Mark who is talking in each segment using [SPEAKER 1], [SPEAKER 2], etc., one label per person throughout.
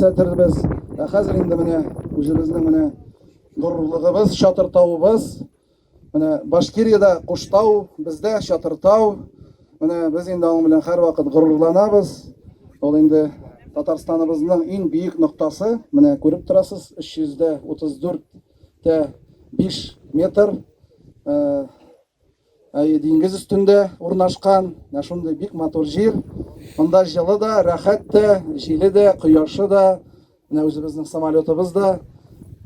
[SPEAKER 1] күрсәтербез. Ә хәзер инде менә үзебезнең менә горурлыгыбыз, Чатыртавыбыз. Менә Башкириядә Куштау, бездә Чатыртау. Менә без инде аның белән һәрвакыт горурланабыз. Ул инде Татарстаныбызның иң биек ноктасы. Менә күреп торасыз, 334 тә 5 метр. Әйе, диңгез өстендә урнашкан, менә шундый бик матур җир. Монда җылы да, рәхәт тә, җиле дә, кояшы да. Менә үзебезнең самолетыбыз да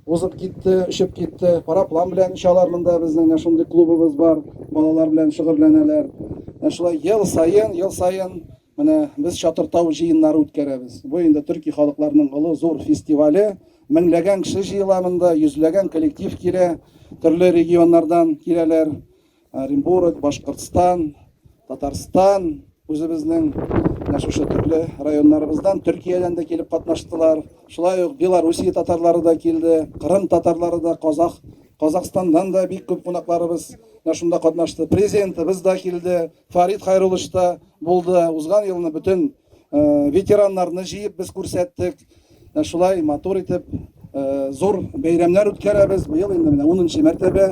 [SPEAKER 1] узып китте, очып китте. Параплан белән очалар монда безнең менә шундый клубыбыз бар. Балалар белән шөгыльләнәләр. Менә шулай ел саен, ел саен Менә без Чатыртау җыеннары үткәрәбез. Бу инде төрки халыкларның олы зур фестивале. Меңләгән кеше җыела монда, йөзләгән коллектив килә, төрле регионнардан киләләр. Оренбург, Башкортстан, Татарстан, үзебезнең менә шушы төрле районнарыбыздан, Төркиядән дә килеп катнаштылар. Шулай ук Белоруссия татарлары да килде, Кырым татарлары да, Казах, Казахстаннан да бик күп кунакларыбыз менә шунда катнашты. Президентыбыз да килде, Фарит Хайруллович та Булды. Узган елны бөтен ветераннарны җыеп без күрсәттек. Шулай матур итеп зур бәйрәмнәр үткәрәбез. Быел инде менә 10 нчы мәртәбә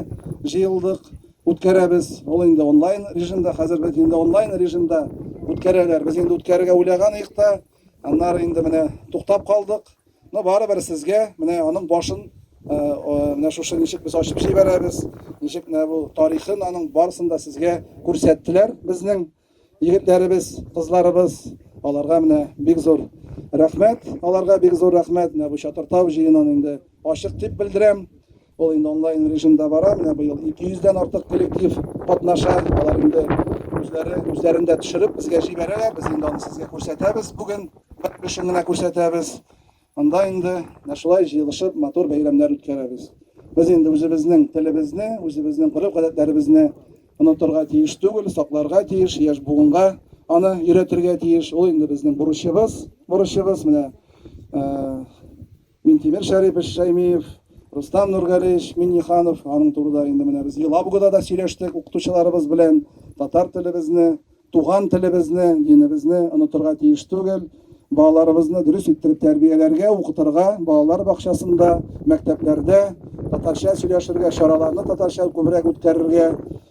[SPEAKER 1] җыелдык, үткәрәбез. Ул инде онлайн режимда, хәзер бит инде онлайн режимда үткәрәләр. Без инде үткәрергә уйлаган идек тә, аннары инде менә туктап калдык. Но барыбер сезгә менә аның башын менә шушы ничек без ачып җибәрәбез, ничек менә бу тарихын аның барысын да сезгә күрсәттеләр безнең егетләребез, кызларыбыз. Аларга менә бик зур рәхмәт, аларга бик зур рәхмәт. Менә бу Чатыртау җыенын инде ачык дип белдерәм. Ул инде онлайн режимда бара. Менә быел 200 дән артык коллектив катнаша. Алар инде үзләре үзләрен дә төшереп безгә җибәрәләр. Без инде аны сезгә күрсәтәбез. Бүген бер өлешен генә күрсәтәбез. Анда инде менә шулай җыелышып матур бәйрәмнәр үткәрәбез. Без инде үзебезнең телебезне, үзебезнең гореф-гадәтләребезне онытырга тиеш түгел, сакларга тиеш, яшь буынга аны өйрәтергә тиеш. Ул инде безнең бурычыбыз, борычыбыз. Менә Минтимер Шәрипович Шәймиев, Рустам Нургалиевич Минниханов, аның турыда инде менә без Елабугада да сөйләштек укытучыларыбыз белән, татар телебезне, туган телебезне, динебезне онытырга тиеш түгел, балаларыбызны дөрес иттереп тәрбияләргә, укытырга, балалар бакчасында, мәктәпләрдә татарча сөйләшергә, чараларны татарча күбрәк үткәрергә,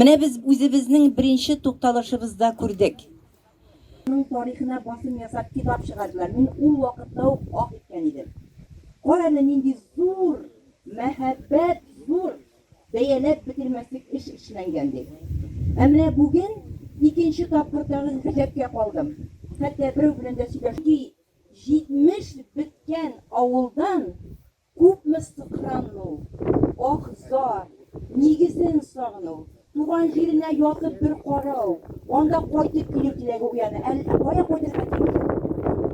[SPEAKER 2] Менә без үзебезнең беренче тукталышыбызда күрдек. Аның тарихына басым ясап китап чыгардылар. Мин ул вакытта ук ах иткән идем. Кара әле нинди зур мәһабәт, зур, бәяләп бетермәслек эш эшләнгән дип. Ә менә бүген икенче тапкыр тагын гаҗәпкә калдым. Хәтта берәү белән дә сөйләшү. Чөнки 70 беткән авылдан Күпме сыкрану, аһ-зар, нигезен сагыну, туган җиренә ятып бер карау, анда кайтып килү теләге уяна, әллә кая кайтырга тиеш
[SPEAKER 1] ул.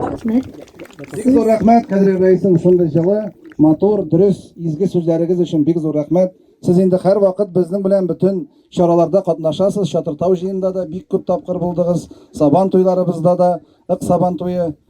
[SPEAKER 1] Рәхмәт, сез. Бик зур рәхмәт, кадерле рәисем, шундый җылы, матур, дөрес, изге сүзләрегез өчен бик зур рәхмәт. Сез инде һәрвакыт безнең белән бөтен чараларда катнашасыз, Чатыртау җыенында да бик күп тапкыр булдыгыз, Сабан туйларыбызда да, Ык Сабан туе.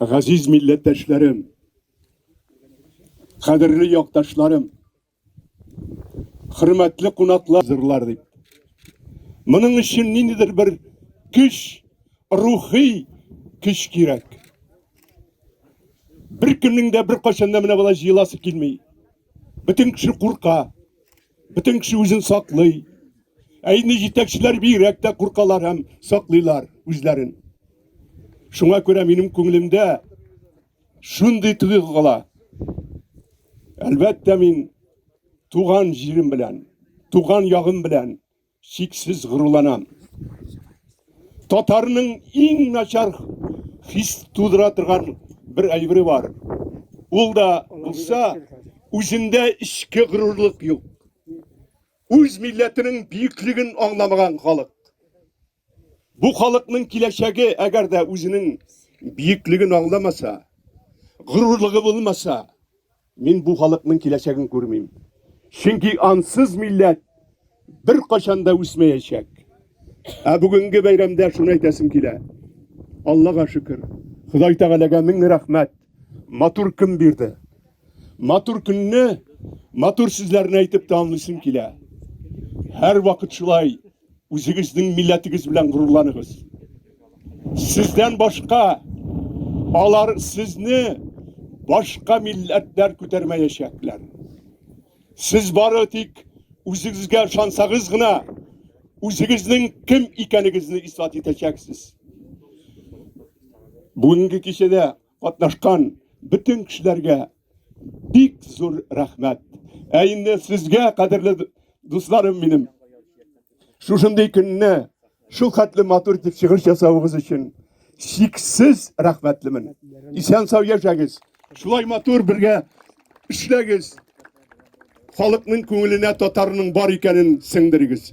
[SPEAKER 3] Газиз милләттәшләрем, кадерле якташларым, хөрмәтле кунаклар зырлар дип. Моның өчен ниндидер бер көч, рухи көч кирәк. Бер көннең дә бер кайчан да менә болай җыеласы килми. Бөтен кеше курка. Бөтен кеше үзен саклый. Ә инде җитәкчеләр бигрәк тә куркалар һәм саклыйлар үзләрен. Шуңа күрә минем күңелемдә шундый тойгы кала. Әлбәттә, мин туган җирем белән, туган ягым белән чиксез горурланам. Татарның иң начар хис тудыра торган бер әйбере бар. Ул да булса, үзендә эчке горурлык юк. Үз милләтенең бөеклеген аңламаган халык. Бу халыкның киләчәге, әгәр дә үзенең бөеклеген аңламаса, горурлыгы булмаса, Мин бу халыкның киләчәген күрмим. Чөнки ансыз милләт беркайчан да үсмәячәк. Ә бүгенге бәйрәмдә шуны әйтәсем килә. Аллага шөкер, Ходай Тәгаләгә мең рәхмәт. Матур көн бирде. Матур көнне матур сүзләрне әйтеп тәмамлыйсым килә. Һәрвакыт шулай. Үзегезнең милләтегез белән горурланыгыз. Сездән башка алар сезне башка милләтләр күтәрмәячәкләр. Сез бары тик үзегезгә ышансагыз гына, үзегезнең кем икәнегезне исбат итәчәксез. Бүгенге кичәдә Катнашкан бөтен кешеләргә бик зур рәхмәт. Ә инде сезгә, кадерле дусларым минем, шушындый көнне шул хәтле матур итеп чыгыш ясавыгыз өчен чиксез рәхмәтлемен. Исән сау яшәгез. Шулай матур бергә эшләгез. Халыкның күңеленә татарның бар икәнен сеңдерегез.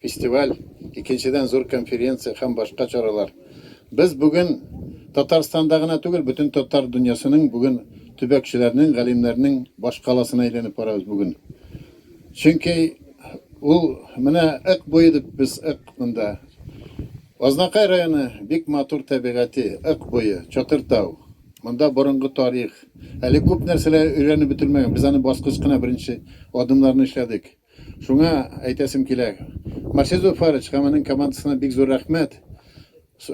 [SPEAKER 4] Фестиваль, икенчедән зур конференция һәм башка чаралар. Без бүген Татарстанда гына түгел, бөтен татар дөньясының бүген төбәкчеләрнең, галимнәрнең башкаласына әйләнеп барабыз бүген. Чөнки ул менә ык буе дип без ык монда. Азнакай районы бик матур табигате, ык буе, чатыр тау. Монда борынгы тарих. Әле күп нәрсәләр өйрәнеп бетермәгән. Без аны баскыч кына беренче адымнарны эшләдек. Шуңа әйтәсем килә, Марсель Зуфарович һәм аның командасына бик зур рәхмәт.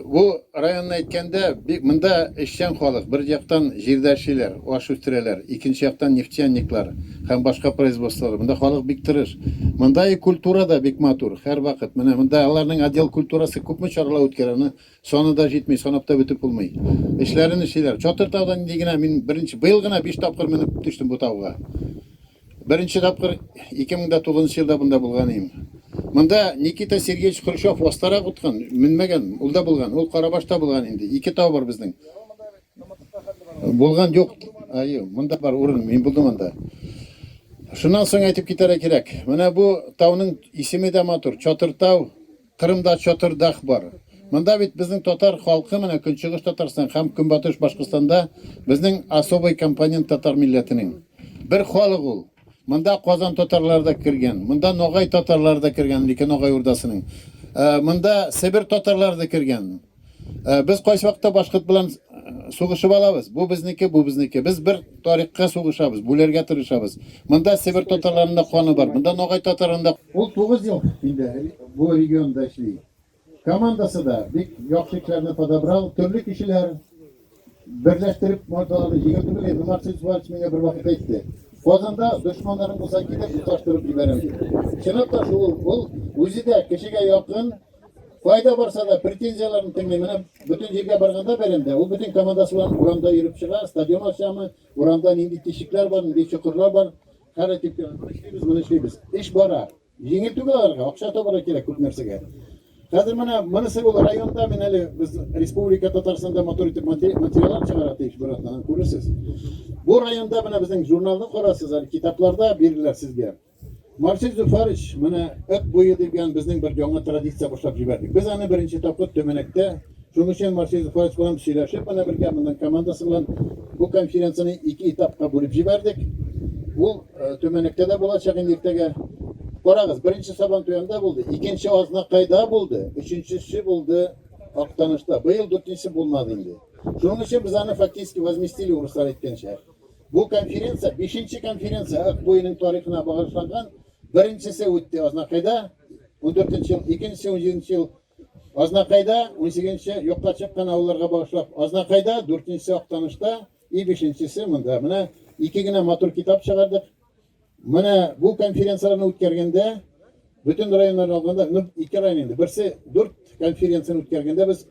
[SPEAKER 4] Бу районны әйткәндә, бик монда эшчән халык, бер яктан җирдә эшлиләр, аш үстерәләр, икенче яктан нефтяниклар һәм башка производстволар. Монда халык бик тырыш. Монда и культура да бик матур, һәрвакыт. Менә монда аларның отдел культурасы күпме чаралар үткәрә, аны саны да җитми, санап та бетеп булмый. Эшләрен эшлиләр. Чатыр таудан нинди генә, мин беренче, быел гына биш тапкыр менеп төштем бу тауга. Беренче тапкыр 2009 елда монда булган идем. Монда Никита Сергеевич Хрущев вастарак уткан, менмәгән, ул да булган, ул Карабашта булган инде, ике тау бар безнең. Булган юк, аю, монда бар урын, мин булдым анда. Шуннан соң әйтеп китәргә кирәк, менә бу тауның исеме дә матур, Чатыртау. Кырымда Чатырдах бар. Монда бит безнең татар халкы менә Көнчыгыш Татарстан һәм Көнбатыш Башкортстанда безнең особый компонент татар милләтенең. Бер халык ул. Монда Казан татарлары да кергән, монда Ногай татарлары да кергән, Микә Ногай урдасының. Монда Себер татарлары да кергән. Э, без кайчакта башкорт белән э, сугышып алабыз. Бу безнеке, бу безнеке. Без бер тарихка сугышабыз, бүләргә тырышабыз. Монда Себер татарларында каны бар, монда Ногай татарларында. Ул 9 ел инде бу регионда эшли. Командасы да бик яхшы кешеләрне подобрал, төрле кешеләр, Берләштереп мордаларны җиңел түгел инде, Максим Суач миңа бер вакыт әйтте. Казанда дошманнарың булса китеп тоташтырып җибәрәм дип. Чынлап та шул, ул үзе дә кешегә якын, кайда барса да претензияләрен тыңлый. Менә бөтен җиргә барганда бәйрәмдә ул бөтен командасы белән урамда йөреп чыга, стадион ачамы, урамда нинди тишекләр бар, нинди чокырлар бар, хәл итеп, моны эшлибез, моны эшлибез. Эш бара. Җиңел түгел аларга, акча табарга кирәк күп нәрсәгә. Хәзер менә монысы ул районда мин әле без республика Татарстанда матур итеп материаллар чыгара тиеш бер атнадан күрерсез. Бу районда менә безнең журналны карасыз әле китапларда бирделәр сезгә. Марсель Зуфарыч менә Ит буе дигән безнең бер яңа традиция башлап җибәрдек. Без аны беренче тапкыр Төмәнәктә Шуның өчен Марсель Зуфарович белән сөйләшеп, менә бергә монның командасы белән бу конференцияне ике этапка бүлеп җибәрдек. Ул Төмәнектә дә булачак инде иртәгә. Карагыз, беренче Сабан Туянда булды, икенче Азнакайда булды, өченчесе булды Актанышта. Быел дүртенчесе булмады инде. Шуның өчен без аны фактически возместили, урыслар әйткәнчә. Бу конференция, бишенче конференция Ак буеның тарихына багышланган. Беренчесе үтте Азнакайда, 14 ел, икенчесе 17 ел Азнакайда, 18 юкка чыккан авылларга багышлап Азнакайда, дүртенчесе Актанышта. И бишенчесе монда. Менә ике генә матур китап чыгардык. Менә бу конференцияләрне үткәргәндә, бөтен районнарны алганда, ну, ике район инде. Берсе дүрт конференцияне үткәргәндә без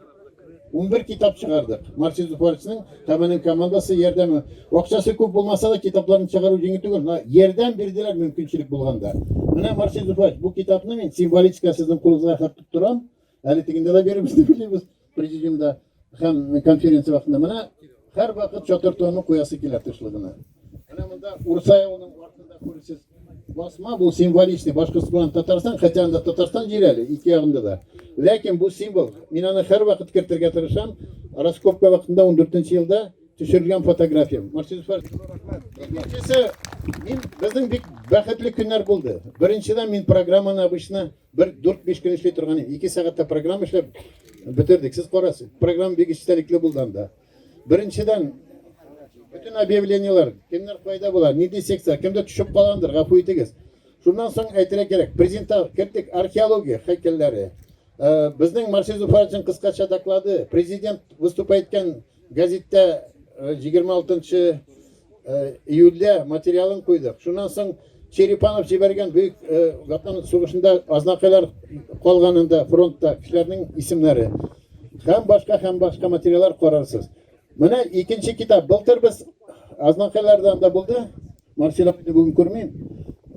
[SPEAKER 4] 11 китап чыгардык. Марсиз Зуфаровичның һәм аның командасы ярдәме. Акчасы күп булмаса да, китапларын чыгару җиңел түгел. Ярдәм бирделәр мөмкинчелек булганда. Менә Марсиз Зуфарович, бу китапны мин символическая сезнең кулыгызга хәтле торам. Әле тегендә дә бирербез дип уйлыйбыз. Президиумда һәм конференция вакытында менә һәрвакыт чатыр тонын куясы килә тышлыгына. Менә монда Урса явының артында күрсез басма бу символичный Башкортстан Татарстан, хотя анда Татарстан җире әле ике ягында да. Ләкин бу символ, мин аны һәрвакыт кертергә тырышам. Раскопка вакытында 14 елда төшерелгән фотография. Марсис Фар. Икенчесе, мин безнең бик бәхетле көннәр булды. Беренчедән мин программаны обычно Бер дүрт-биш көн эшли торган ике сәгатьтә программа эшләп бетердек. Сез карас, программа бик эчтәлекле булды анда. Беренчедән, бөтен объявлениеләр, кемнәр кайда була, нинди секция, кемдә төшеп калгандыр, гафу итегез. Шуннан соң әйтергә кирәк, презента кердек археология һәйкәлләре. Безнең Марсель Зуфаровичның кыскача доклады, президент выступай иткән Гәзиттә 26 нчы июльдә материалын куйдык. Шуннан соң Черепанов җибәргән бөек Ватан сугышында азнакайлар калганында фронтта кешеләрнең исемнәре һәм башка һәм башка материаллар карарсыз. Менә икенче китап. Былтыр без азнакайлардан да булды. Марсель абыйны бүген күрмим.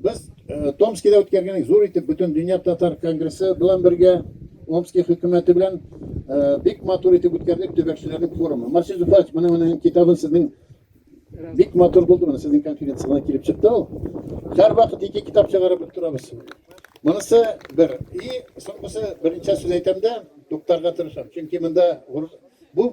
[SPEAKER 4] Без Томскида үткәргән зур итеп бөтен дөнья татар конгрессы белән бергә Омский хөкүмәте белән бик матур итеп үткәрдек төбәкчеләрнең форумы. Марсель Зуфарович, моның менә китабын сезнең бик матур булды моны сезнең конференцияңа килеп чыкты ул. Һәр вакыт ике китап чыгарып торабыз. Монысы бер. И соңгысы беренче сүз әйтәмдә туктарга тырышам. Чөнки монда бу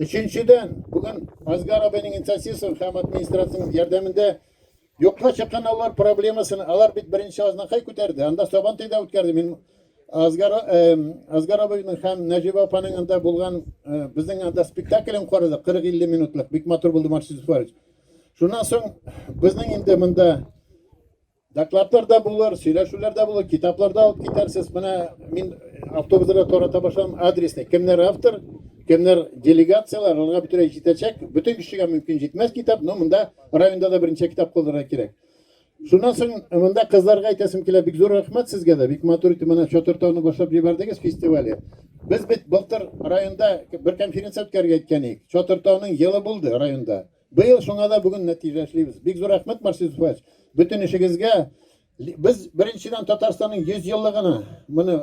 [SPEAKER 4] Өченчедән, бүген Азгар абыйның инициативасын һәм администрациянең ярдәмендә юкка чыккан авыллар проблемасын, алар бит беренче Азнакай күтәрде, анда Сабантуй да үткәрде. Мин Азгар Азгар абыйның һәм Нәҗибә апаның анда булган безнең анда спектаклен карадык 40-50 минутлык. Бик матур булды, Марсис Зуфарович. Шуннан соң безнең инде монда Докладлар да булыр, сөйләшүләр дә булыр, китаплар да алып китәрсез. Менә мин автобусларда тарата башладым адресны. Кемнәр автор, кемнәр делегацияләр, аларга бөтенләй җитәчәк. Бөтен кешегә мөмкин җитмәс китап, но монда районда да берничә китап калдырырга кирәк. Шуннан соң монда кызларга әйтәсем килә, бик зур рәхмәт сезгә дә. Бик матур итеп менә Чатыр тауны башлап җибәрдегез фестивале. Без бит былтыр районда бер конференция үткәрергә әйткән идек. Чатыр тауның елы булды районда. Быел шуңа да бүген нәтиҗә эшлибез. Бик зур рәхмәт, Марсель Зуфарович, бөтен эшегезгә. Без, беренчедән, Татарстанның 100 еллыгына моны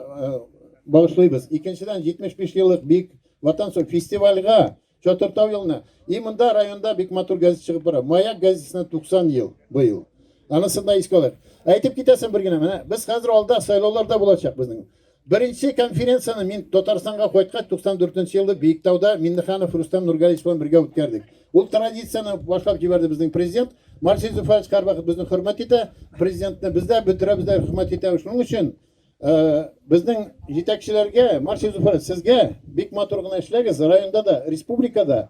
[SPEAKER 4] багышлыйбыз. Икенчедән, 75 еллык Бөек Ватан сугышы фестивальгә, Чатыртау елына. И монда районда бик матур газета чыгып бара. Маяк газетасына 90 ел быел. Анысын да искә алыйк. Әйтеп китәсем бер генә, менә без хәзер алда сайлаулар да булачак безнең. Беренче конференцияне мин Татарстанга кайткач 94 нче елда Биектауда Миннеханов Рустам Нургалиевич белән бергә үткәрдек. Ул традицияне башлап җибәрде безнең президент. Марсель Зуфарович һәрвакыт безне хөрмәт итә, президентны без дә, бөтерәбез дә хөрмәт итәбез. Шуның өчен безнең җитәкчеләргә, Марсель Зуфарович, сезгә бик матур гына эшләгез, районда да, республикада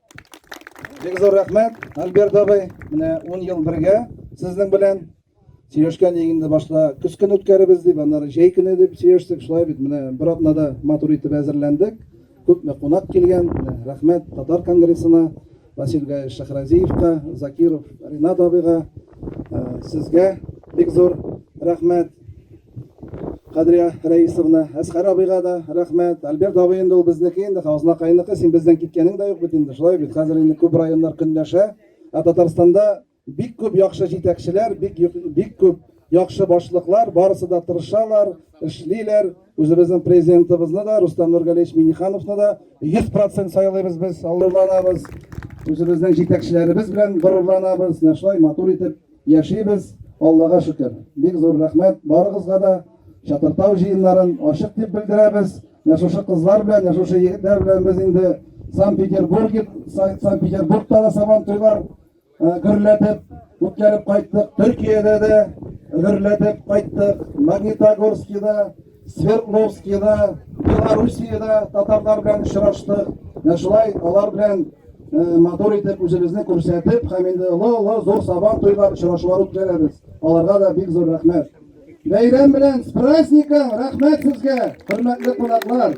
[SPEAKER 1] Бик зур рәхмәт, Альберт абый. Менә 10 ел бергә сезнең белән сөйләшкән инде башта көз көне үткәребез дип, аннары җәй көне дип сөйләштек. Шулай бит, менә бер атнада матур итеп әзерләндек. Күпме кунак килгән. Рәхмәт татар конгрессына, Василь Гаевич Шахразиевка, Закиров Ринат абыйга, э, сезгә бик зур рәхмәт. Кадрия Рәисовна, Әсхәр абыйга да рәхмәт. Альберт абый инде ул безнеке инде, Хазнакайныкы, син бездән киткәнең дә юк бит инде, шулай бит, хәзер инде күп районнар көнләшә. Ә Татарстанда бик күп яхшы җитәкчеләр, бик, бик күп яхшы башлыклар, барысы да тырышалар, эшлиләр. Үзебезнең президентыбызны да, Рустам Нургалевич Минихановны да 100% сайлыйбыз без, горурланабыз. Үзебезнең җитәкчеләребез белән горурланабыз, менә шулай матур итеп. Яшибез, Аллага шөкер. Бик зур рәхмәт барыгызга да. Чатыртау җыеннарын ачык дип белдерәбез. Менә шушы кызлар белән, менә шушы егетләр белән без инде Санкт-Петербург, Санкт-Петербургта да Сабан туйлар гөрләтеп үткәреп кайттык. Төркиядә дә гөрләтеп кайттык. Магнитогорскида Свердловскида, Белоруссиядә татарлар белән очраштык. Менә шулай алар белән матур итеп үзебезне күрсәтеп, һәм инде олы-олы зур сабан туйлар очрашулар үткәрәбез. Аларга да бик зур рәхмәт. Бәйрәм белән, с праздником! Рәхмәт сезгә, хөрмәтле кунаклар!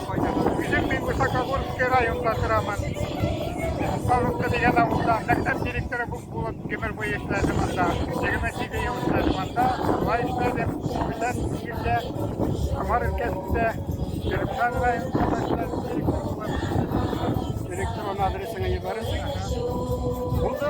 [SPEAKER 5] Үзем мин Высокогорский районда торам. Павловка дигән авылда мәктәп директоры булып гомер буе эшләдем анда. 27 ел эшләдем анда. Шулай эшләдем. Бүтән җирдә Самар өлкәсендә Төркмән районында эшләдем. Электрон адресыңа ебәрәсең. Булды.